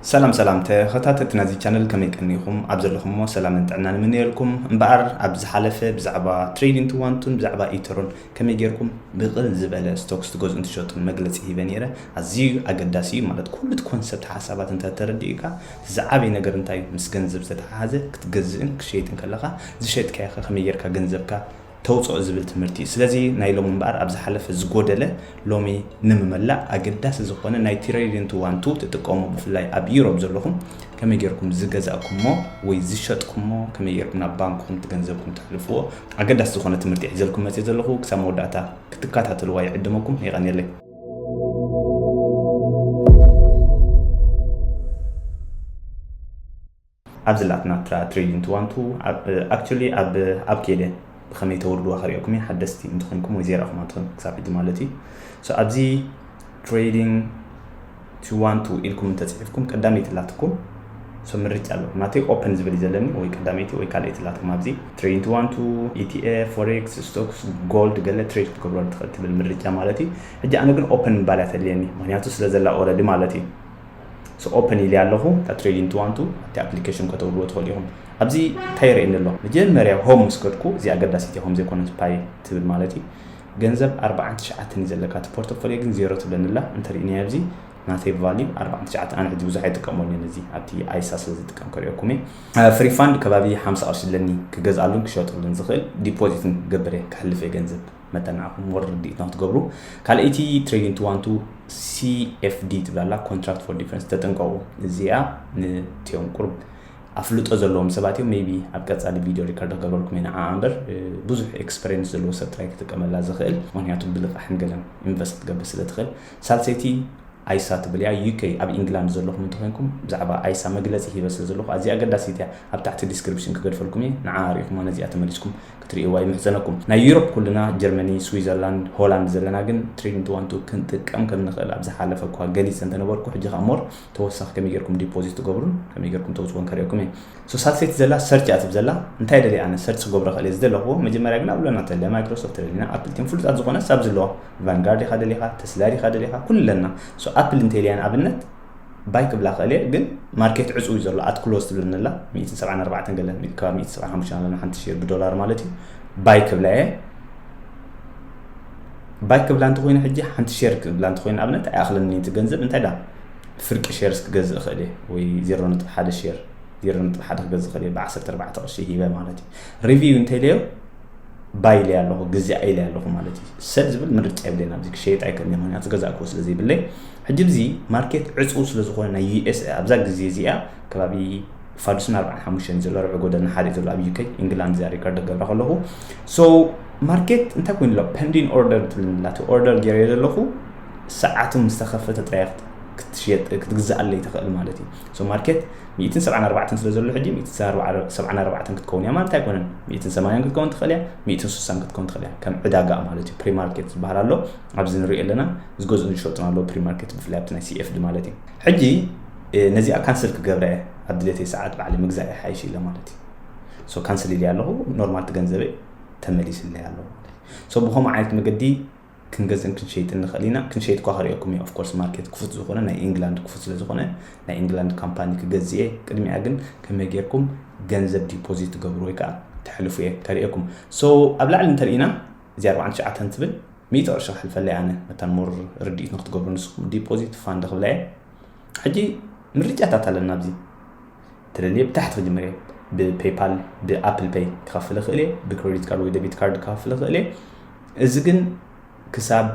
ሰላም ሰላም ተኸታተልቲ ናዚ ቻነል ከመይ ቀኒኹም ኣብ ዘለኹሞ ሰላምን ጥዕናን እምነየልኩም እምበኣር ኣብ ዝሓለፈ ብዛዕባ ትሬድ ኢንቱ ዋንቱን ብዛዕባ ኢተሮን ከመይ ጌርኩም ብቕል ዝበለ ስቶክስ ትገዝኡን ትሸጡን መግለጺ ሂበ ነይረ ኣዝዩ ኣገዳሲ እዩ ማለት ኩሉ እቲ ኮንሰፕት ሓሳባት እንተ ተረዲኡካ እቲ ዝዓበየ ነገር እንታይ እዩ ምስ ገንዘብ ዝተተሓሓዘ ክትገዝእን ክሸይጥን ከለኻ ዝሸጥካዮኸ ከመይ ጌርካ ገንዘብካ ተውጽኦ ዝብል ትምህርቲ እዩ። ስለዚ ናይ ሎሚ እምበኣር ኣብ ዝሓለፈ ዝጎደለ ሎሚ ንምመላእ ኣገዳሲ ዝኾነ ናይ ቲረይሪንቱ ዋንቱ ትጥቀሙ ብፍላይ ኣብ ዩሮብ ዘለኹም ከመይ ጌርኩም ዝገዛእኩሞ ወይ ዝሸጥኩሞ ከመይ ጌርኩም ናብ ባንክኹም ትገንዘብኩም ተሕልፍዎ ኣገዳሲ ዝኾነ ትምህርቲ ሒዘልኩም መጽየ ዘለኹ ክሳብ መወዳእታ ክትከታተልዋ ይዕድመኩም የቐንየለይ። ኣብ ዝላኣክ ናትራ ትሬዲን ትዋንቱ ኣክቸሊ ኣብ ኣብ ኬደ ብከመይ ተውርድዋ ከርእየኩም እየ ሓደስቲ እንተኮንኩም ወይ ዘይራኩም ኣንተኮንኩም ክሳብ ሕጂ ማለት እዩ ሶ ኣብዚ ትሬዲንግ ትዋንቱ ኢልኩም እንተጽሒፍኩም ቀዳመይቲ ላትኩም ሶ ምርጫ ኣለኩም ናተይ ኦፕን ዝብል ዘለኒ ወይ ቀዳመይቲ ወይ ካልኣይቲ ላትኩም ኣብዚ ትሬዲንግ ትዋንቱ ኢቲኤፍ ፎሬክስ ስቶክስ ጎልድ ገለ ትሬድ ክትገብረሉ ትክእል ትብል ምርጫ ማለት እዩ ሕጂ ኣነ ግን ኦፕን ምባልያ ተድልየኒ ምክንያቱ ስለ ዘላ ኦረዲ ማለት እዩ So open ኢለያ ኣለኹ እታ ትሬዲንግ ትዋንቱ ኣብቲ ኣፕሊኬሽን ከተውርድዎ ትኽእሉ ኢኹም። ኣብዚ እንታይ የርእየኒ ኣሎ መጀመርያ ሆም ምስ ከድኩ እዚኣ ኣገዳሲት እያ ከምዘይኮነት ፓይ ትብል ማለት እዩ ገንዘብ ኣርብዓን ትሽዓተን እዩ ዘለካ እቲ ፖርቶፎልዮ ግን ዜሮ ትብለኒ ኣላ እንተሪእናዮ ኣብዚ ናተይ ቫልዩ ኣርብዓን ትሽዓተን ኣነ ሕጂ ብዙሕ ኣይጥቀመሉን እዚ ኣብቲ ኣይሳ ስለ ዝጥቀም ከሪኦኩም እየ ፍሪ ፋንድ ከባቢ ሓምሳ ቅርሺ ኣለኒ ክገዝኣሉን ክሸጥሉን ዝኽእል ዲፖዚትን ክገብር እየ ክሕልፍ እየ ገንዘብ መጠን ንዓኹም ሞር ርድኢት ንክትገብሩ ካልኣይቲ ትሬዲንግ ትዋንቱ ሲኤፍዲ ትብላ ኣላ ኮንትራክት ፎር ዲፈረንስ ተጠንቀቑ እዚኣ ንትዮም ቁርብ ኣፍልጦ ዘለዎም ሰባት እዮም ሜቢ ኣብ ቀፃሊ ቪድዮ ሪከርድ ክገብረልኩም ኢና ዓዓ እምበር ብዙሕ ኤክስፐሪንስ ዘለዎ ሰብ ጥራይ ክጥቀመላ ዝኽእል ምክንያቱ ብልቃሕን ገለን ኢንቨስት ክትገብር ስለ ትኽእል ሳልሰይቲ ኣይሳ ትብል እያ ዩኬ ኣብ ኢንግላንድ ዘለኹም እንተኮይንኩም ብዛዕባ ኣይሳ መግለፂ ሂበ ስለ ዘለኹ ኣዝያ ኣገዳሲት እያ ኣብ ታሕቲ ዲስክሪፕሽን ክገድፈልኩም እየ ንዓ ሪኢኹም ነዚኣ ተመሊስኩም ክትሪእዋ ይምሕጸነኩም ናይ ዩሮፕ ኩልና ጀርመኒ ስዊዘርላንድ ሆላንድ ዘለና ግን ትሪድንት ዋንቱ ክንጥቀም ከም ንኽእል ኣብ ዝሓለፈ እኳ ገሊጸ እንተነበርኩ ሕጂ ከኣ ሞር ተወሳኺ ከመይ ጌርኩም ዲፖዚት ትገብሩን ከመይ ጌርኩም ተውጽዎን ከርእየኩም እየ ሶ ሳትሰይቲ ዘላ ሰርች እያ ትብ ዘላ እንታይ ደልየ ኣነ ሰርች ክገብሮ ክእል እየ ዝደለኹዎ መጀመርያ ግን ኣብ ለና ተለ ማይክሮሶፍት ደሊና ኣፕል ቲም ፍሉጣት ዝኾነ ሳብ ዝለዋ ቫንጋርድ ኢኻ ደሊኻ ተስላ ዲኻ ደሊኻ ኩሉ ኣለና ሶ ኣፕል እንተልያ ንኣብነት ባይ ክብላ እኽእል እየ ግን ማርኬት ዕጹው እዩ ዘሎ ኣት ክሎዝ ትብለኒ ኣላ ሚእትን ሰብዓን ኣርባዕተን ገለ ከባቢ ሚእቲ ሰብዓን ሓሙሽተን ኣለና ሓንቲ ሼር ብዶላር ማለት እዩ ባይ ክብላ እየ ባይ ክብላ እንተኮይነ ሕጂ ሓንቲ ሼር ክብላ እንተኮይነ ኣብነት ኣይኣኽለኒ እቲ ገንዘብ እንታይ ዳ ፍርቂ ሼርስ ክገዝእ እኽእል እየ ወይ ዜሮ ነጥቢ ሓደ ሼር ዜሮ ነጥቢ ሓደ ክገዝእ እኽእል እየ ብዓሰርተ ኣርባዕተ ቅርሺ ሂበ ማለት እዩ ሪቪው እንተይለዮ ባይ ኢለያ ኣለኹ ግዜ ኢለያ ኣለኹ ማለት እዩ ሰብ ዝብል ምርጫ የብለይን ኣብዚ ክሸየጥ ኣይከልኒ ምክንያቱ ገዛእ ክወ ስለ ዘይብለይ ሕጂ ብዚ ማርኬት ዕጽው ስለ ዝኾነ ናይ ዩኤስኤ ኣብዛ ግዜ እዚኣ ከባቢ ፋዱስን ኣርብዓን ሓሙሽተን ዘሎ ርብዒ ጎደና ሓደ ዘሎ ኣብ ዩከይ ኢንግላንድ እዚኣ ሪከርድ ገብራ ከለኹ ሶ ማርኬት እንታይ ኮይኑ ኣሎ ፐንዲን ኦርደር ትብልንላ እቲ ኦርደር ገይረ ዘለኹ ሰዓቱ ምስ ተኸፈተ ጥራይ ክትሸጥ ክትግዛኣለይ ትኽእል ማለት እዩ ሶ ማርኬት ሚእትን ሰብዓን ኣርባዕተን ስለ ዘሎ ሕጂ ሚእትን ሰብዓን ኣርባዕተን ክትከውን እያ ማለት ኣይኮነን ሚእትን ሰማንያን ክትከውን ትኽእል እያ ሚእትን ስሳን ክትከውን ትኽእል እያ ከም ዕዳጋ ማለት እዩ ፕሪማርኬት ዝበሃል ኣሎ ኣብዚ ንሪኦ ኣለና ዝገዝኡን ዝሸጡን ኣለዉ ፕሪማርኬት ብፍላይ ኣብቲ ናይ ሲኤፍዲ ማለት እዩ ሕጂ ነዚኣ ካንስል ክገብረ እየ ኣብ ድሌተይ ሰዓት ባዕሊ ምግዛእ ይሓይሽ ኢለ ማለት እዩ ሶ ካንስል ኢለ ኣለኹ ኖርማል እቲ ገንዘበይ ተመሊስለይ ኣለዎ ሶ ብከምኡ ዓይነት መገዲ ክንገዝእን ክንሸይጥን ንኽእል ኢና ክንሸይጥ እኳ ክሪኦኩም እዩ ኦፍኮርስ ማርኬት ክፉት ዝኾነ ናይ ኢንግላንድ ክፉት ስለ ዝኾነ ናይ ኢንግላንድ ካምፓኒ ክገዝ እየ ቅድሚያ ግን ከመይ ጌርኩም ገንዘብ ዲፖዚት ትገብሩ ወይ ከዓ ተሕልፉ እየ ከርእየኩም ሶ ኣብ ላዕሊ እንተርኢና እዚ 49 ትብል ሚእቲ ቅርሺ ክሕልፈለይ ኣነ መታን ሞር ርድኢት ንክትገብሩ ንስኩም ዲፖዚት ፋንድ ክብላ እየ ሕጂ ምርጫታት ኣለና ኣብዚ ተደልየ ብታሕቲ ክጅምር እየ ብፔይፓል ብኣፕል ፔይ ክኸፍል እኽእል እየ ብክሬዲት ካርድ ወይ ደቢት ካርድ ክኸፍል እኽእል እየ እዚ ግን ክሳብ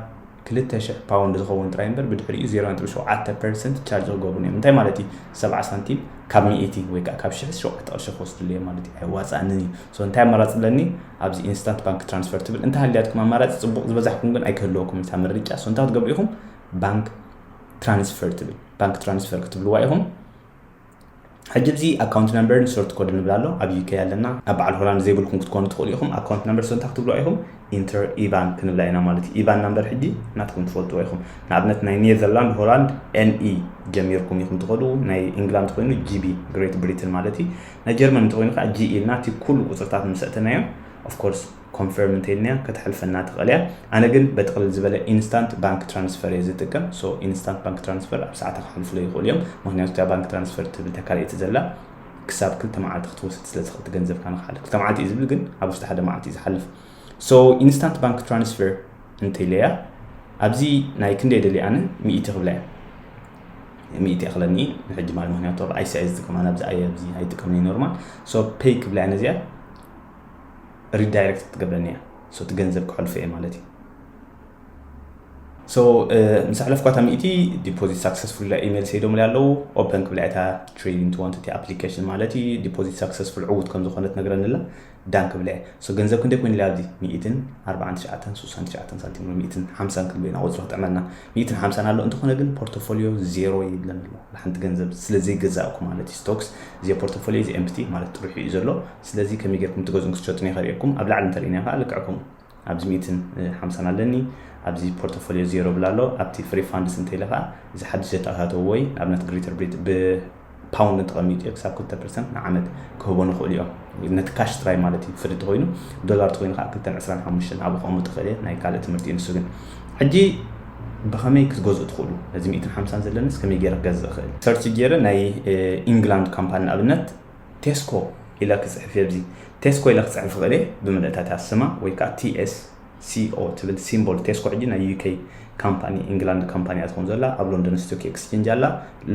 ክልተ ሽሕ ፓውንድ ዝኸውን ጥራይ እምበር ብድሕሪኡ 0.7 ፐርሰንት ቻርጅ ክገብሩን እዮም እንታይ ማለት እዩ ሰብዓ ሳንቲም ካብ ሚእቲ ወይ ከዓ ካብ ሽሕ ሸውዓተ ቅርሺ ክወስድሉ እዮም ማለት እዩ ኣይዋፃእንን እዩ So እንታይ ኣማራጺ ኣለኒ ኣብዚ ኢንስታንት ባንክ ትራንስፈር ትብል እንተሃልያትኩም ኣማራጺ ጽቡቕ ዝበዛሕኩም ግን ኣይክህልወኩም እታ ምርጫ so እንታይ ክትገብሩ ኢኹም ባንክ ትራንስፈር ትብል ባንክ ትራንስፈር ክትብልዋ ኢኹም ሕጂ እዚ ኣካውንት ነምበርን ሶርት ኮድ ንብል ኣሎ ኣብ ዩኬ ኣለና ኣብ በዓል ሆላንድ ዘይብልኩም ክትኮኑ ትኽእሉ ኢኹም ኣካውንት ነምበር ሰንታ ክትብሉ ኢኹም ኢንተር ኢቫን ክንብላ ኢና ማለት እዩ ኢቫን ናምበር ሕጂ ናትኩም ትፈልጥዎ ኢኹም ንኣብነት ናይ ኔዘርላንድ ሆላንድ ኤንኢ ጀሚርኩም ኢኹም ትኸዱ ናይ ኢንግላንድ ኮይኑ ጂቢ ግሬት ብሪትን ማለት እዩ ናይ ጀርመን እንተኾይኑ ከኣ G ኢልና እቲ ኩሉ ቁጽርታት ምስ ኣእተናዮ of course confirm እንተኢልናያ ከተሕልፈና ትኽእል እያ ኣነ ግን በጥቕልል ዝበለ instant bank transfer እየ ዝጥቀም so instant bank transfer ኣብ ሰዓታ ከሕልፉለይ ይኽእሉ እዮም ምኽንያቱ እታ bank transfer ትብል እታ ካልኣይቲ ዘላ ክሳብ ክልተ መዓልቲ ክትወስድ ስለ ትኽእል ገንዘብካ ንክሓልፍ ክልተ መዓልቲ እዩ ዝብል ግን ኣብ ውሽጢ ሓደ መዓልቲ እዩ ዝሓልፍ so instant bank transfer እንተኢለያ ኣብዚ ናይ ክንደይ ደልየ ኣነ ሚእቲ ክብላ እያ ሚእቲ የክለኒ እየ ንሕጂ ማለት ምክንያቱ ኣብ ኣይሲ ኣየ ዝጥቀም ኣነ ኣብዚ ኣየ ኣብዚ ኣይጥቀምን እየ ኖርማል ሶ ፔይ ክብላ እያ ነዚኣ ሪዳይሬክት ትገብረኒ እያ ሶ እቲ ገንዘብ ክሕልፎ እየ ማለት እዩ ሶ ምስ ኣሕለፍኳ እታ ሚእቲ ዲፖዚት ሳክሰስፉል ኢላ ኢሜል ሰይዶምለይ ኣለዉ ኦፐን ክብላ እታ ትሬዲንግ ትወንቲ እቲ ኣፕሊኬሽን ማለት እዩ ዲፖዚት ሳክሰስፉል ዕዉት ከም ዝኾነት ነግረኒ ኣላ ዳን ክብላ ኢየ so ገንዘብ ክንደይ ኮይኑ ኢላ ኣብዚ ሚኢትን ኣርባዓን ትሽዓተን ሱሳን ትሽዓተን ሳንቲም ኣሎ ሚኢትን ሓምሳን ክንብል ኢና ቁጽሪ ክጥዕመልና ሚኢትን ሓምሳን ኣሎ እንተኮነ ግን ፖርቶፎልዮ ዜሮ ይብለን ኣሎ ብሓንቲ ገንዘብ ስለ ዘይገዛእኩ ማለት ኢዩ stocks እዚ ፖርቶፎልዮ እዚ empty ማለት ጥርሑ ኢዩ ዘሎ ስለዚ ከመይ ጌርኩም ትገዝኡን ክትሸጡን የከሪኤኩም ኣብ ላዕሊ እንተሪኢናዮ ከኣ ልክዕኩም ኣብዚ ሚእትን ሓምሳን ኣለኒ ኣብዚ ፖርቶፎልዮ ዜሮ ብል ኣሎ ኣብቲ ፍሪ ፋንድስ እንተ ኢለ ከኣ እዚ ሓድሽ ዘተኣታተውዎ እዪ ንኣብነት ግሪተር ብሪት ብ ፓውንድ እንተቐሚጡ እዮ ክሳብ ክልተ ፐርሰንት ንዓመት ክህቦን ይኽእሉ እዮም ነቲ ካሽ ጥራይ ማለት እዩ ፍሪ እንተኾይኑ ዶላር እንተኾይኑ ከኣ ክልተን ዕስራን ሓሙሽተን ኣብኡ ከቕምጥ ይኽእል እየ ናይ ካልእ ትምህርቲ እዩ ንሱ ግን ሕጂ ብኸመይ ክትገዝኡ ትኽእሉ ነዚ ሚእትን ሓምሳን ዘለንስ ከመይ ገይረ ክገዝእ እኽእል ሰርች ገይረ ናይ ኢንግላንድ ካምፓኒ ንኣብነት ቴስኮ ኢለ ክጽሕፍ እየ ኣብዚ ቴስኮ ኢለ ክጽሕፍ ይኽእል እየ ብምልእታ እታ ስማ ወይ ከኣ TSCO ትብል ሲምቦል ቴስኮ ሕጂ ናይ UK ካምፓኒ ኢንግላንድ ካምፓኒ እያ ትኾን ዘላ ኣብ ሎንደን ስቶክ ኤክስቼንጅ ኣላ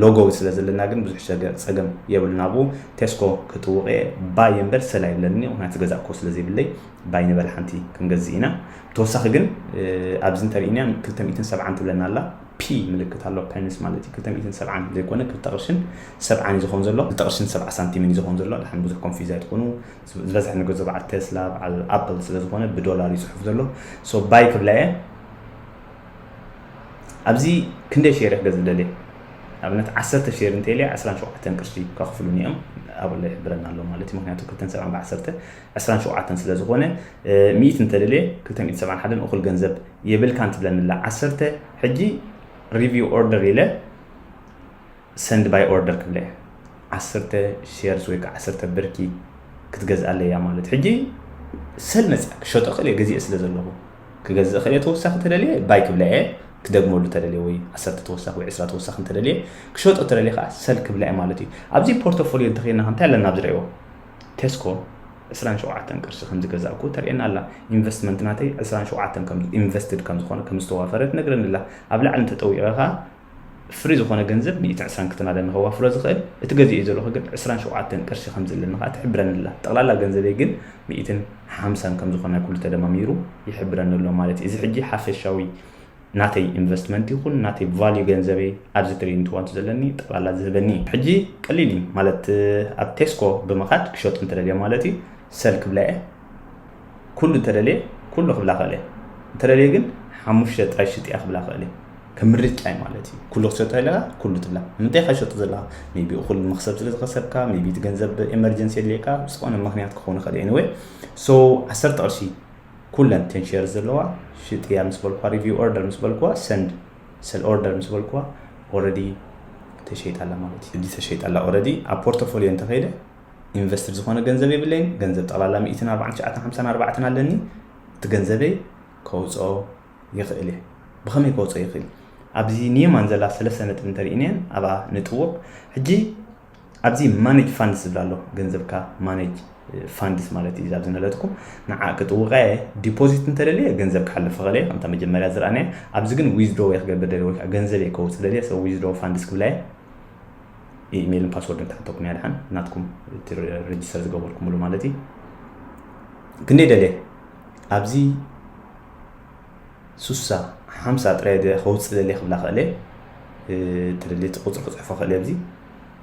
ሎጎ ስለ ዘለና ግን ብዙሕ ጸገም የብሉን ኣብኡ ቴስኮ ክጥውቕ እየ ባይ እምበር ሰላ የብለኒ ምክንያቱ ዝገዛእ ኮ ስለ ዘይብለይ ባይ ንበል ሓንቲ ክንገዝእ ኢና ብተወሳኺ ግን ኣብዚ እንተሪእናያ 270 ትብለና ኣላ ፒ ምልክት ኣሎ ፐንስ ማለት እዩ ክልተ ሚእትን ሰብዓን ዘይኮነ ክልተ ቅርሽን ሰብዓን እዩ ዝኮን ዘሎ ክልተ ቅርሽን ሰብዓ ሳንቲምን እዩ ዝኮን ዘሎ ድሓን ብዙሕ ኮንፊዝ ኣይትኩኑ ዝበዝሕ ንገዞ በዓል ቴስላ በዓል ኣፕል ስለ ዝኮነ ብዶላር እዩ ጽሑፍ ዘሎ ሶ ባይ ክብላ እየ ኣብዚ ክንደይ ሼር ክገዝ ዝደልየ ኣብነት ዓሰርተ ሼር እንተልየ ዕስራን ሸውዓተን ቅርሺ ከኽፍሉኒ እዮም ኣብላ ይሕብረና ኣሎ ማለት እዩ ምክንያቱ ክልተን ሰብዓን ብዓሰርተ ዕስራን ሸውዓተን ስለ ዝኾነ ሚእት እንተደልየ ክልተ ሚእት ሰብዓን ሓደን እኹል ገንዘብ የብልካን ትብለኒ ኣላ ዓሰርተ ሕጂ ሪቪው ኦርደር ኢለ ሰንድ ባይ ኦርደር ክብለ እየ ዓሰርተ ሼርስ ወይ ከዓ ዓሰርተ ብርኪ ክትገዝኣለይ እያ ማለት ሕጂ ሰብ መፅያ ክሸጦ ክእል እየ ገዚኤ ስለ ዘለኹ ክገዝእ ክእል እየ ተወሳኺ ተደልየ ባይ ክብላ እየ ክደግመሉ ተደልየ ወይ ዓሰርተ ተወሳኺ ወይ ዕስራ ተወሳኺ እንተደልየ ክሸጦ ተደልየ ከዓ ሰል ክብላ እየ ማለት እዩ ኣብዚ ፖርቶፎሊዮ እንተኸይና እንታይ ኣለና ኣብዚ ርእዎ ቴስኮ ዕስራን ሸውዓተን ቅርሺ ከምዝገዛእኩ ተርእየና ኣላ። ኢንቨስትመንት ናተይ ዕስራን ሸውዓተን ከም ኢንቨስትድ ከምዝኾነ ከምዝተዋፈረ ትነግረኒ ኣላ። ኣብ ላዕሊ እንተጠዊቐ ከኣ ፍሪ ዝኾነ ገንዘብ ሚእቲ ዕስራን ክትናለኒ ከዋፍሮ ዝኽእል እቲ ገዚኤዮ ዘለኹ ግን ዕስራን ሸውዓተን ቅርሺ ከምዘለኒ ከኣ ትሕብረኒ ኣላ። ጠቕላላ ገንዘበይ ግን ሚእትን ሓምሳን ከምዝኾነ ኩሉ ተደማሚሩ ይሕብረኒ ኣሎ ማለት እዩ። እዚ ሕጂ ሓፈሻዊ ናተይ ኢንቨስትመንት ይኹን ናተይ ቫልዩ ገንዘበይ ኣብዚ ትሪኢንት ዋንቱ ዘለኒ ጠቕላላ ዝህበኒ እዩ። ሕጂ ቀሊል እዩ ማለት ኣብ ቴስኮ ብምኻድ ክሸጡ እንተደልየ ማለት እዩ ሰል ክብላ እየ ኩሉ እንተደልየ ኩሉ ክብላ ክእል እየ እንተደልየ ግን ሓሙሽተ ጥራይ ሽጥ እያ ክብላ ክእል እየ ከም ምርጫ እዩ ማለት እዩ ኩሉ ክትሸጦ ኣለካ ኩሉ ትብላ ንምንታይ ኢካ ሸጡ ዘለካ ሜቢ እኹል መክሰብ ስለ ዝኸሰብካ ሜቢ እቲ ገንዘብ ኤመርጀንሲ የድልየካ ዝኾነ ምክንያት ክኸውን ይኽእል ኤኒወይ ሶ ዓሰርተ ቅርሺ ኩለን እተን ሼርስ ዘለዋ ሽጥያ ምስ በልኩዋ ሪቪው ኦርደር ምስ በልኩዋ ሰንድ ሰል ኦርደር ምስ በልኩዋ ኦረዲ ተሸይጣ ኣላ ማለት እዩ። ሕጂ ተሸይጣ ኣላ ኦረዲ ኣብ ፖርቶፎልዮ እንተኸይደ ኢንቨስትድ ዝኾነ ገንዘብ የብለይን ገንዘብ ጠቕላላ ሚእትን ኣርባዓን ትሽዓተን ሓምሳን ኣርባዕተን ኣለኒ እቲ ገንዘበይ ከውፅኦ ይኽእል እየ ብኸመይ ከውፅኦ ይኽእል ኣብዚ ኒየማን ዘላ ሰለስተ ነጥቢ እንተሪኢናየን ኣብኣ ንጥውቕ ሕጂ ኣብዚ ማነጅ ፋንድስ ዝብል ኣሎ ገንዘብካ ማነጅ ፋንድስ ማለት እዩ ኣብዚ ነለትኩ ንዓ ክጥውቀ እየ ዲፖዚት እንተደልየ ገንዘብ ክሓልፍ ይኽእል እየ ከምታ መጀመርያ ዝረኣናየ ኣብዚ ግን ዊዝድሮ እየ ክገብር ደልየ ወይ ከዓ ገንዘብ እየ ከውፅእ ደልየ ሰ ዊዝድሮ ፋንድስ ክብላ እየ ኢሜይልን ፓስወርድን ክሓተኩም እያ ድሓን ናትኩም እቲ ሬጅስተር ዝገበርኩምሉ ማለት እዩ ክንደይ ደልየ ኣብዚ ሱሳ ሓምሳ ጥራይ ድየ ከውጽእ ደልየ ክብላ ክእለ ትልሊ እቲ ቁጽሪ ክጽሕፎ ክእለ ኣብዚ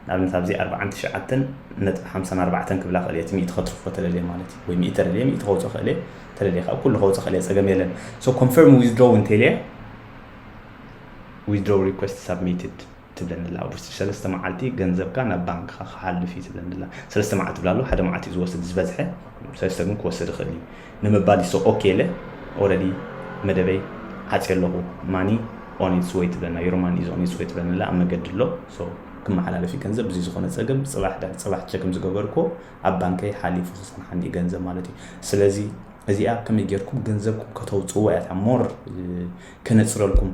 ንኣብነት ኣብዚ ኣርብዓን ትሽዓተን ነጥቢ ሓምሳን ኣርባዕተን ክብላ ክእለ እቲ ሚእቲ ከትርፎ ተደልየ ማለት እዩ ወይ ሚእቲ ተደልየ ሚእቲ ከውጽእ ክእለ ተደልየ ካብ ኩሉ ከውጽእ ክእለ ጸገም የለን ሶ ኮንፈርም ዊዝድሮው እንተልየ ዊዝድሮው ሪኩዌስት ሳብሚትድ ትብለኒ ኣላ ኣብ ውሽጢ ሰለስተ መዓልቲ ገንዘብካ ናብ ባንክካ ክሓልፍ እዩ ትብለኒ ኣላ ሰለስተ መዓልቲ ትብላ ኣለኩ ሓደ መዓልቲ እዩ ዝወስድ ዝበዝሐ ሰለስተ ግን ክወስድ ይክእል እዩ ንምባል ይሶ ኦኬ ኢለ ኦረዲ መደበይ ዓጽየ ኣለኩ ማኒ ኦን ኢትስ ወይ ትብለና ዮር ማኒ ኢዝ ኦን ኢትስ ወይ ትብለኒ ኣላ ኣብ መገዲ ኣሎ ሶ ክመሓላለፍ እዩ ገንዘብ ብዚ ዝኮነ ጸገም ጽባሕ ድሕሪ ጽባሕ ቸክ ምስ ገበርኩዎ ኣብ ባንከይ ሓሊፉ ክጸንሓኒ እዩ ገንዘብ ማለት እዩ ስለዚ እዚኣ ከመይ ጌርኩም ገንዘብኩም ከተውጽእዎ እያ እታ ሞር ከነጽረልኩም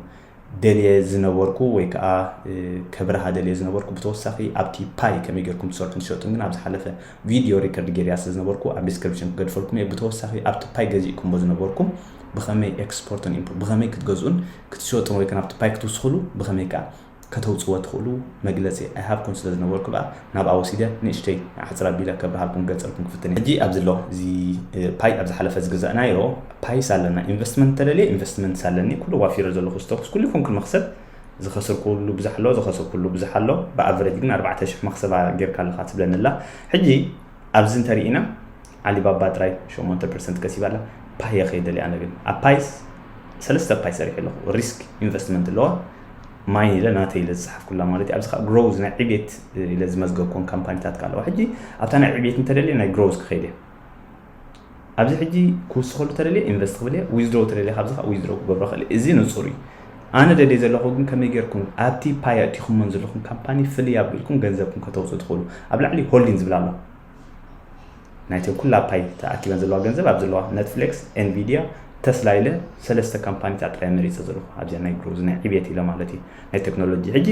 ደልየ ዝነበርኩ ወይ ከኣ ከብርሃ ደልየ ዝነበርኩ ብተወሳኺ ኣብቲ ፓይ ከመይ ጌርኩም ትሰርሑን ትሸጡን ግን ኣብ ዝሓለፈ ቪድዮ ሪከርድ ጌርያ ስለ ዝነበርኩ ኣብ ዲስክሪፕሽን ክገድፈልኩም እየ ብተወሳኺ ኣብቲ ፓይ ገዚእኩምዎ ዝነበርኩም ብኸመይ ኤክስፖርትን ኢምፖ ብኸመይ ክትገዝኡን ክትሸጡን ወይ ከኣ ናብቲ ፓይ ክትውስኽሉ ብኸመይ ከኣ ከተውጽዎ ትኽእሉ መግለጺ ኣይሃብኩን ስለ ዝነበርኩ ደኣ ናብኣ ወሲደ ንእሽተይ ኣሕጽር ኣቢለ ከብርሃልኩም ክገልጸልኩም ክፍትን ሕጂ ኣብዚ ኣሎ እዚ ፓይ ኣብ ዝሓለፈ ዝገዛእናዮ ፓይስ ኣለና ኢንቨስትመንት ተደልየ ኢንቨስትመንትስ ኣለኒ ኩሉ ዋፊረ ዘለኹ ስተኩስ ኩሉ ይኹን ክመኽሰብ ዝኸስርኩሉ ብዙሕ ኣሎ ዝኸስርኩሉ ብዙሕ ኣሎ ብኣቨረጅ ግን ኣርባዕተ ሽሕ መኽሰባ ጌርካ ኣለኻ ትብለኒ ኣላ ሕጂ ኣብዚ እንተርኢና ዓሊባባ ጥራይ ሸሞንተ ፐርሰንት ከሲባ ኣላ ፓየ ከይደልየ ኣነ ግን ኣብ ፓይስ ሰለስተ ፓይ ሰሪሐ ኣለኹ ሪስክ ኢንቨስትመንት ኣለዋ ማይን ኢለ ናተይ ኢለ ዝጸሓፍኩላ ማለት እዩ። ኣብዚ ከኣ ግሮውዝ ናይ ዕብየት ኢለ ዝመዝገብኮን ካምፓኒታት ከኣ ኣለዋ። ሕጂ ኣብታ ናይ ዕብየት እንተደልየ ናይ ግሮውዝ ክኸይድ እየ። ኣብዚ ሕጂ ክውስኸሉ ተደልየ ኢንቨስት ክብል እየ፣ ዊዝድሮው ተደልየ ካብዚ ከኣ ዊዝድሮው ክገብሮ ክእል እየ። እዚ ንጹር እዩ። ኣነ ደልየ ዘለኹ ግን ከመይ ጌርኩም ኣብቲ ፓይ ኣእቲኹሞን ዘለኹም ካምፓኒ ፍልይ ኣቢልኩም ገንዘብኩም ከተውጽኡ ትኽእሉ። ኣብ ላዕሊ ሆልዲን ዝብል ኣሎ። ናይቲ ኩላ ፓይ ተኣኪበን ዘለዋ ገንዘብ ኣብ ዘለዋ ነትፍሌክስ ኤንቪድያ ተስላ ኢለ ሰለስተ ካምፓኒታት ጥራይ መሪፀ ዘለኹ ኣብዚኣ ናይ ግሮዝ ናይ ዕብየት ኢለ ማለት እዩ ናይ ቴክኖሎጂ ሕጂ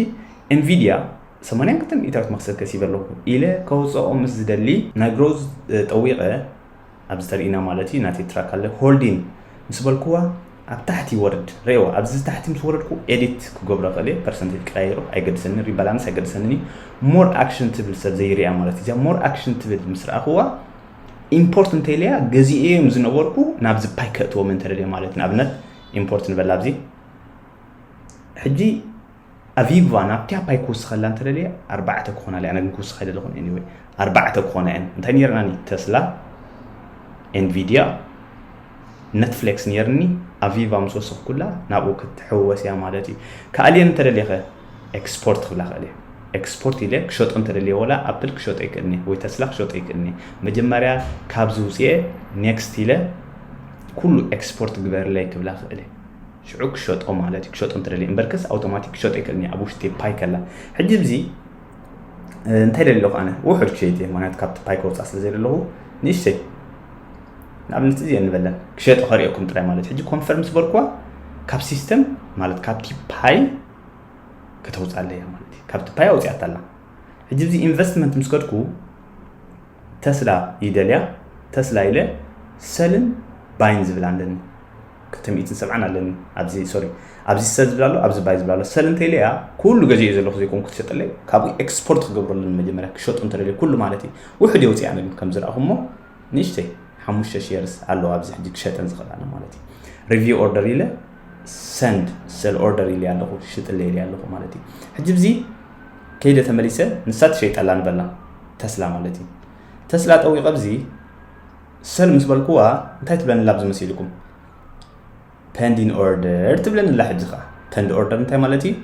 ኤንቪድያ ሰማንያን ክልተ ሚእታዊት መክሰብ ከሲበ ኣለኹ ኢለ ከውፅኦ ምስ ዝደሊ ናይ ግሮዝ ጠዊቐ ኣብዚ ተርእይና ማለት እዩ ናተይ ትራክ ኣለ ሆልዲን ምስ በልኩዋ ኣብ ታሕቲ ይወርድ ሬዋ ኣብዚ ታሕቲ ምስ ወረድኩ ኤዲት ክገብሮ ክእል እየ ፐርሰንቴጅ ቀያይሮ ኣይገድሰኒ ሪባላንስ ኣይገድሰንን እዩ ሞር ኣክሽን ትብል ሰብ ዘይርያ ማለት እዩ እዚኣ ሞር ኣክሽን ትብል ምስ ረኣኽዋ ኢምፖርት እንተይለያ ገዚኤዮም ዝነበርኩ ናብዚ ፓይ ከእትዎም እንተደልየ ማለት ንኣብነት ኢምፖርት ንበላ ኣብዚ ሕጂ ኣቪቫ ናብቲ ኣባይ ክውስኸላ እንተደልየ ኣርባዕተ ክኾና ኣለየ ኣነ ግን ክውስኽ ኣይደለኹን ኤኒወይ ኣርባዕተ ክኾና እየን እንታይ ነይረናኒ ተስላ ኤንቪድያ ነትፍሌክስ ነይርኒ ኣቪቫ ምስ ወሰኽኩላ ናብኡ ክትሕወስ እያ ማለት እዩ ካልየን እንተደልየኸ ኤክስፖርት ክብላ ክእል እየ ኤክስፖርት ኢለ ክሸጦ እንተደልየ ወላ ኣፕል ክሸጦ ይክእልኒ ወይ ተስላ ክሸጦ ይክእልኒ መጀመርያ ካብዚ ውፅኤ ኔክስት ኢለ ኩሉ ኤክስፖርት ግበርለይ ክብላ ክእል ሽዑ ክሸጦ ማለት እዩ ክሸጦ እንትደልየ እምበርከስ ኣውቶማቲክ ክሸጦ ኣይክእልን እየ ኣብ ውሽጢ ፓይ ከላ ሕጂ እዚ እንታይ ደሊ ኣለኹ ኣነ ውሑድ ክሸይጥ እየ ምክንያቱ ካብቲ ፓይ ከውፃእ ስለ ዘለኹ ንእሽተይ ንኣብነት እዚ ንበለን ክሸጦ ከሪኦኩም ጥራይ ማለት ሕጂ ኮንፈርም ዝበልኩዋ ካብ ሲስተም ማለት ካብቲ ፓይ ከተውፃለ እያ ማለት እዩ ካብቲ ፓይ ኣውፅያታ ኣላ ሕጂ እዚ ኢንቨስትመንት ምስ ከድኩ ተስላ ይደልያ ተስላ ኢለ ሰልን ባይን ዝብል ኣለኒ ክልተ ሚእትን ሰብዓን ኣለኒ ኣብዚ ሶሪ ኣብዚ ሰል ዝብል ኣሎ ኣብዚ ባይ ዝብል ኣሎ ሰል እንተኢለያ ኩሉ ገዚኦ ዘለኹ ዘይኮንኩ ትሸጠለይ ካብኡ ኤክስፖርት ክገብሮ ኣለኒ መጀመርያ ክሸጡ እንተደልየ ኩሉ ማለት እዩ ውሕድ የውፅያ ግን ከም ዝረኣኹሞ ንእሽተይ ሓሙሽተ ሼርስ ኣለዋ ኣብዚ ሕጂ ክሸጠን ዝኽእላነ ማለት እዩ ሪቪው ኦርደር ኢለ ሰንድ ሰል ኦርደር ኢለ ኣለኹ ሽጥለ ኢለ ኣለኹ ማለት እዩ ሕጂ ብዚ ከይደ ተመሊሰ ንሳ ትሸይጠላ ንበላ ተስላ ማለት እዩ ተስላ ጠዊቀ ኣብዚ ሰል ምስ በልኩዋ እንታይ ትብለኒ ኣላ ኣብዚ መሲልኩም ፐንዲን ኦርደር ትብለኒ ኣላ ሕጂ ከዓ ፐንድ ኦርደር እንታይ ማለት እዩ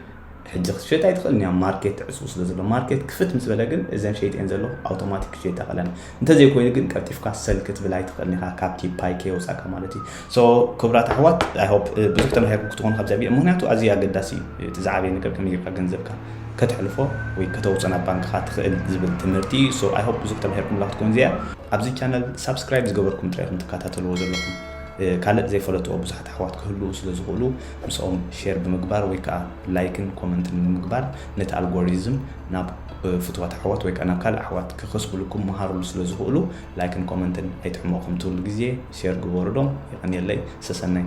ሕጂ ክትሸጥ ኣይትኽእልን እያ ማርኬት ትዕፅው ስለ ዘሎ ማርኬት ክፍት ምስ በለ ግን እዘን ሸይጥኤን ዘለኹ ኣውቶማቲክ ክሸይጣ ቀለን እንተዘይኮይኑ ግን ቀልጢፍካ ሰል ክትብል ኣይትኽእልን ኢኻ ካብቲ ፓይከ የውፃእካ ማለት እዩ So ክቡራት ኣሕዋት I hope ብዙሕ ተማሂርኩም ክትኾኑ ካብዚ ኣቢየ ምኽንያቱ ኣዝዩ ኣገዳሲ እዩ እቲ ዝዓበየ ነገር ከመይ ጌርካ ገንዘብካ ከተሕልፎ ወይ ከተውጾ ናብ ባንክኻ ትኽእል ዝብል ትምህርቲ እዩ so I hope ብዙሕ ተማሂርኩምላ ክትኮን እዚኣ ኣብዚ ቻነል ሳብስክራይብ ዝገበርኩም ጥራይ ኢኹም ትከታተልዎ ዘለኹም ካልእ ዘይፈለጥዎ ብዙሓት ኣሕዋት ክህልዉ ስለ ዝኽእሉ ምስኦም ሼር ብምግባር ወይ ከዓ ላይክን ኮመንትን ብምግባር ነቲ ኣልጎሪዝም ናብ ፍትዋት ኣሕዋት ወይ ከዓ ናብ ካልእ ኣሕዋት ክኸስብልኩም መሃርሉ ስለ ዝኽእሉ ላይክን ኮመንትን ኣይጥዕሞኩም ትብሉ ግዜ ሼር ግበሩ ዶ የቀንየለይ ሰሰናዩ።